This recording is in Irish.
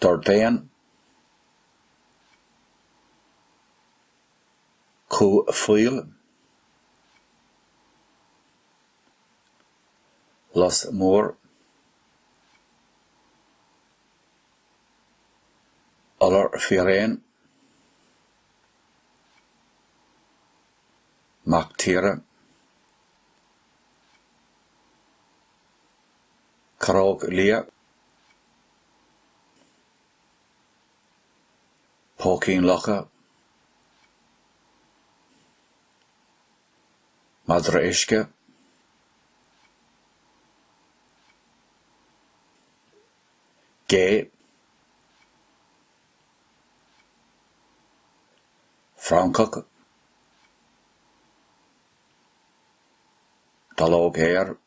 D'ordaigh Cú Faoil Lus mór Iolar Fíréan Mac Tíre. Caróg liath. Póicín locha. Madra uisce. Gé. Francach. Dallóg Fhéir.